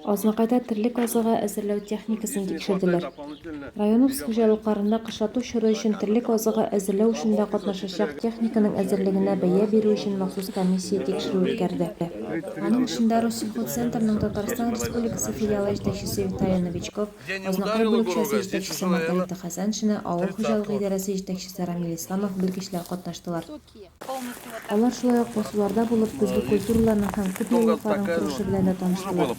Азнакайда терлек азыгы әзерләү техникасын тикшерделәр. Районыбыз хуҗалыкларында кышлату чоры өчен терлек азыгы әзерләү эшендә катнашачак техниканың әзерлегенә бәя бирү өчен махсус комиссия тикшерү үткәрде. Аның эшендә Россельхозцентрның Татарстан Республикасы филиалы җитәкчесе Виталий Новичков, Азнакай бүлекчәсе җитәкчесе Маргарита Хәсәншина, авыл хуҗалыгы идарәсе җитәкчесе Рамил Исламов белгечләр катнаштылар. Алар шулай ук басуларда булып, көзге культураларның һәм күп еллыкларның торышы белән дә таныштылар.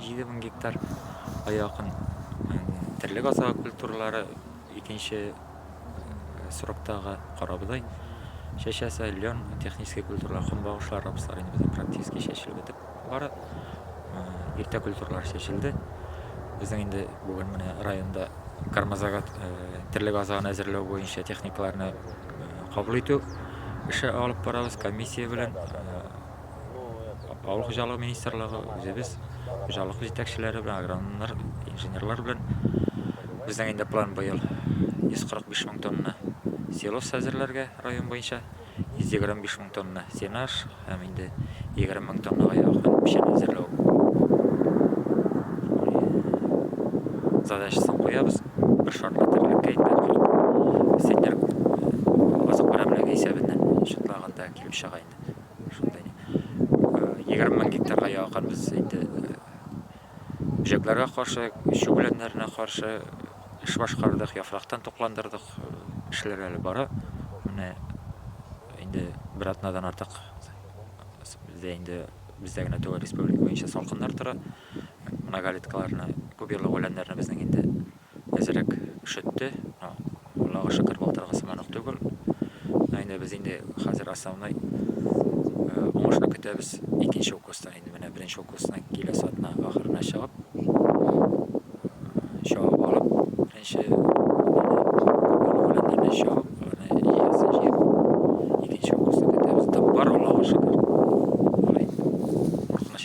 Җиде мең гектар га якын терлек азыгы культуралары икенче сроктагы карабодай, чәчәсе, лен, технический культуралар, көнбагышлар, рапслар инде безнең практически чәчелеп бетеп бара. Иртә культуралар чәчелде. Безнең инде бүген менә районда кармазага терлек азыгын әзерләү буенча техникаларны кабул итү эше алып барабыз комиссия белән. Авыл хуҗалыгы министрлыгы үзебез хуҗалык җитәкчеләре белән, агрономнар, инженерлар белән безнең инде план быел 145 мең тонна силос әзерләргә район буенча 125 мең тонна сенаж һәм инде 20 мең тоннага якын печән әзерләү задачасын куябыз. Бер шартлы терлеккә инде сендер азык берәмлеге исәбеннән шартланганда килеп чыга. Егерме мең гектарга якын без инде бөҗәкләргә каршы, чүп үләннәренә каршы эш башкардык, яфрактан тукландырдык. Эшләр әле бара. Менә инде бер атнадан артык бездә инде бездә генә түгел, республика буенча салкыннар тора. Многолеткаларны, күп еллык үләннәрне безнең инде әзрәк өшетте, но Аллага шөкер былтыргы сыман ук түгел. Но инде без инде хәзер основной э, уңышны көтәбез икенче укустан инде менә беренче укустан киләсе атна ахырына чыгып чабып алып беренче күперле чабып аны иясен җыеп икенче укустан көтәбез тап бар Аллага шөкер. Куркыныч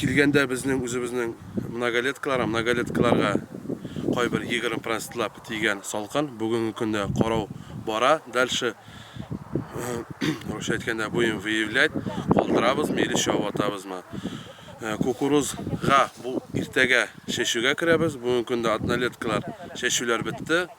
Килгәндә безнең үзебезнең многолеткалар, многолеткаларга кайбер 20 процентлап тигән салкын, бүгенге көндә карау бара, дальше русча әйткәндә будем выявлять, калдырабызмы или чыгып атабызмы. Кукурузга бу иртәгә чәчүгә керәбез, бүгенге көндә однолеткалар чәчүләр бетте.